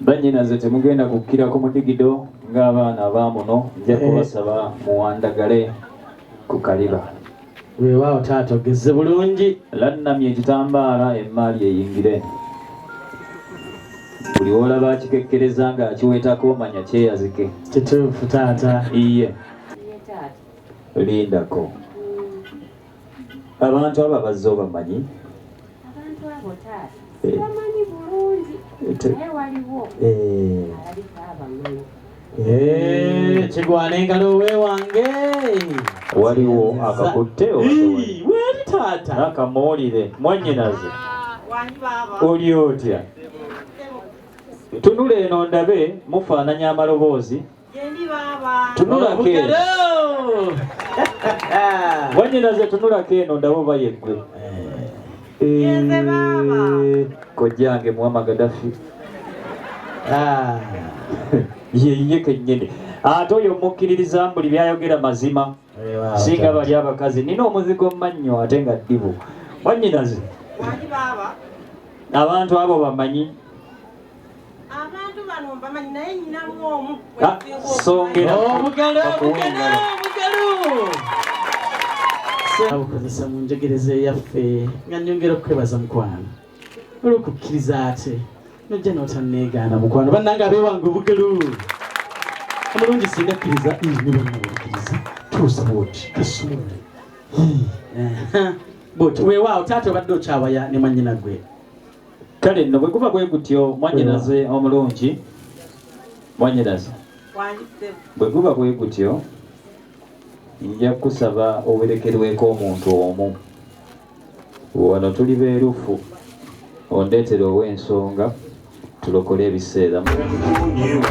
Bannyinaze temugenda kukkira ku mudigido ng'abaana abaamuno nja eh. kubasaba muwandagale ku kaliba. Weewaawo taata ogezze bulungi. Lannamye ekitambaala emmaali eyingire. Buli w'olaba akikekkereza ng'akiweetako manya kyeyazike. Kituufu taata. Iye. Lindako. abantu abo abazze obamanyi abantu abo taata eh. sibamanyi bulungi eh, naye waliwo eh. alabika abamanyi kigwana engalo we wange waliwo akakutte wali taata akamuwulire mwanyinaze ah, oli otya tunula eno ndabe mufaananya amaloboozi Yendi baba. Tunula ke. Wanyina ze tunula ke eno ndabo bayegwe. Eh. Yenze baba. Eh, Kojange mwama Gaddafi. Ah. Yeye kenyene. Ate ah, oyo mukkiririza mbuli byayogera mazima. Eh, Singa bali abakazi nina omuzigo mannyo ate nga ddibu. Wanyinaze. Wali baba. Abantu abo bamanyi. abantu bano mbamanyi naye nyinamu omu abukozesa mu njogereza eyaffe nga nyongera okukwebaza mukwano olwokukkiriza ate nojja notaneegaana mukwano bannange abewange obugelu omulungi singa kkiriza nibannabukkiriza tuusa bwoti kasumule bwoti weewaawo taata obadde okyawaya ne mwanyina gwe kale nno bwe guba bwe gutyo mwanyinaze omulungi mwanyinaze bwe guba bwe gutyo nja kusaba owerekerweko omuntu omu wano tuli beerufu ondeetera ow'ensonga tulokole ebiseera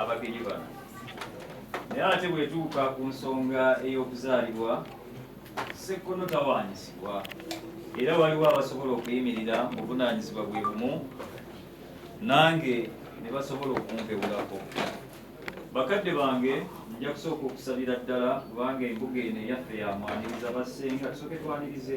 abagenyi bano naye ate bwetuuka ku nsonga ey'okuzaalibwa sekkono tawaanyisibwa era waliwo abasobola okuyimirira mu buvunaanyizibwa bwe bumu nange ne basobola okumpewulako bakadde bange nja kusooka okusabira ddala kubanga embuga eno eyaffe yamwaniriza bassenga tusooke twanirize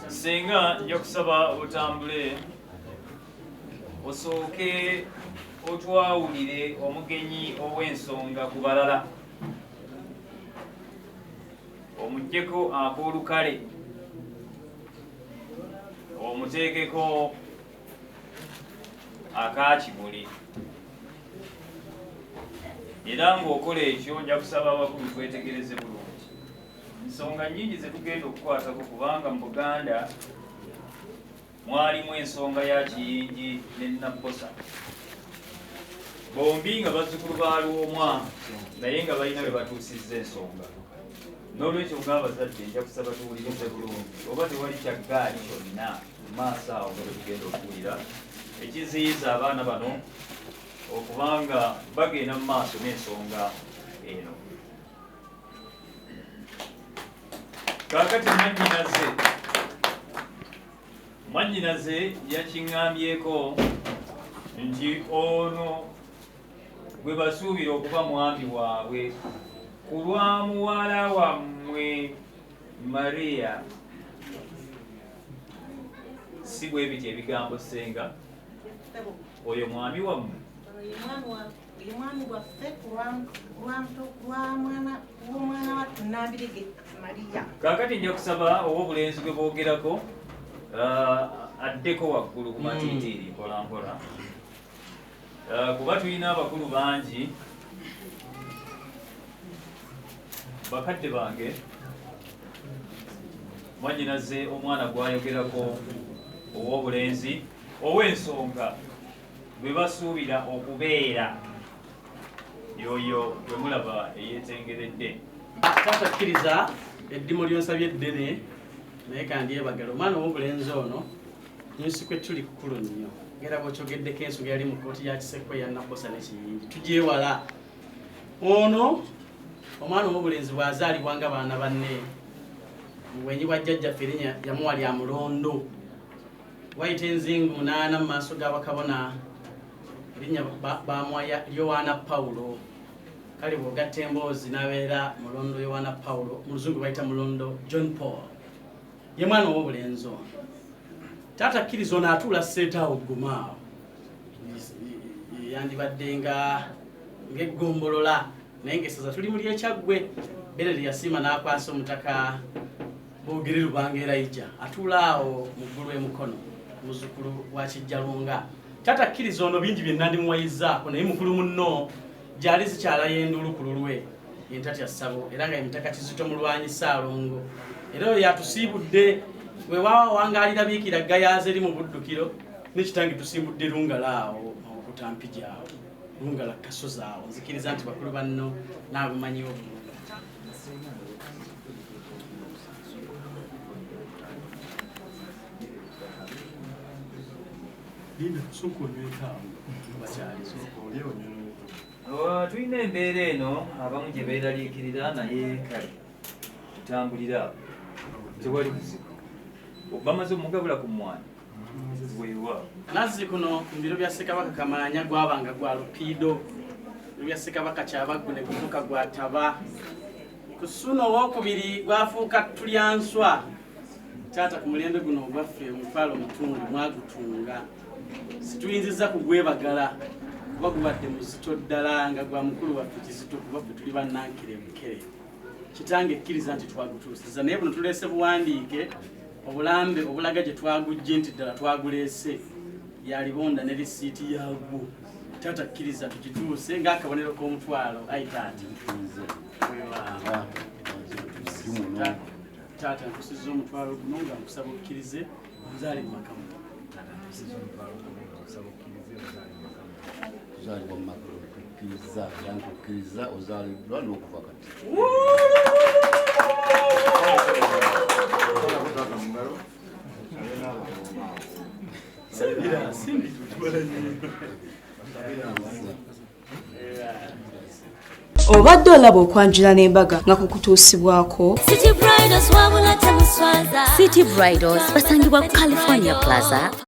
singa nja kusaba otambule osooke otwawulire omugenyi ow'ensonga ku balala omugyeko ak'olukale omuteekeko akakimuli era ng'okola ekyo nja kusaba abakulu kwetegereze bulungi nsonga nyingi zetugenda okukwatako kubanga mu buganda mwalimu ensonga ya Kiyingi ne Nabbosa bombi nga bazzukulu ba Lwomwa naye nga balina bwe batuusizza ensonga n'olwekyo ng'abazadde nja kusaba tuwulirize bulungi oba tewali kya ggaali kyonna mu maaso awo nga bwetugenda okuwulira ekiziyiza abaana bano okuba nga bagenda mu maaso n'ensonga eno kakati mwanyinaze mwanyinaze yakiŋŋambyeko nti ono gwe basuubira okuba mwami waabwe ku lwa muwala wammwe mariya si bwe bityo ebigambo ssenga oyo mwami wammwe Uyu mwami waffe kulwamwana w'omwana wa Nambirege Maria. Kakati nja kusaba ow'obulenzi gwe boogerako uh, addeko waggulu ku matiitiiri hmm. mpola mpola uh, kuba tulina abakulu bangi bakadde bange mwanyinaze omwana gwayogerako ow'obulenzi ow'ensonga gwe basuubira okubeera yoyo gwe mulaba eyetengeredde taata kkiriza eddimu lyonsabye eddene naye kandyebagala omwana owobulenzi ono nyusikwe tuli kukulu nnyo era bwokyogeddeko ensonga yali mu kooti yakisekko yanabosa nekiyingi tugyewala ono omwana owobulenzi bwazaalibwa nga baana banne mubwenyi bwa jjajjaffe erinya yamuwa lya mulondo Wayita enzingu munaana mu maaso ga bakabona, erinnya baamuwaya Yowaana Pawulo. Kale bw'ogatta emboozi n'abeera mulondo Yowaana Pawulo, mu luzungu bayita mulondo John Paul. Ye mwana ow'obulenzi ono. Taata kkiriza ono atuula seetaawo ggumaawo. Yandibadde nga ng'eggombolola naye ng'essaza tuli mu ly'ekyaggwe. Berere yasiima n'akwasa omutaka Bogere Lubanga Elijah atuula awo mu ggulu e Mukono, muzzukulu wa Kijjalunga. Taata kkiriza ono bingi bye nandimuwayizzaako naye mukulu munno gyali zikyalayo enduulu ku lulwe entatya ssabo era nga emitaka kizito mulwanyi ssaalongo era oyo yatusiibudde wewawa wangaalira biikira gayaaza eri mu buddukiro nekitange tusiibudde lungala awo mawokutampija awo lungala kasozi awo nzikiriza nti bakulu banno naabumanyiwo bulungi Linda, soko nywetamu bakyali soko olye onyuno Oh, tulina embeera eno abamu gye beeraliikirira naye kale tutambulira tewali buzibu obamaze omugabula ku mwana Nazzi kuno mu biro bya Ssekabaka Kamaanya gwabanga gwa Lupiido, biro bya Ssekabaka Kyabaggu ne gufuuka gwa Taba. Ku Ssuuna owookubiri gwafuuka Tulyanswa. Taata ku mulembe guno ogwaffe omutwalo mutundu mwagutunga. Situyinzizza kugwebagala kuba gubadde muzito ddala nga gwa mukulu waffe Kizito kuba ffe tuli bannankere bukere. Kitange kkiriza nti twagutuusiza naye buno tuleese buwandiike obulambe obulaga gye twagujje nti ddala twaguleese yalibonda ne lisiiti yagwo taata kkiriza tukituuse ng'akabonero k'omutwalo ayi taata taata nkusiza omutwalo guno nga nkusaba okkirize nzaali mu makamu Kkiriza yange okkiriza ozaaliddwa n'okuva kati. obadde olaba okwanjula n'embaga nga kukutuusibwako city bridals basangibwa ku california plaza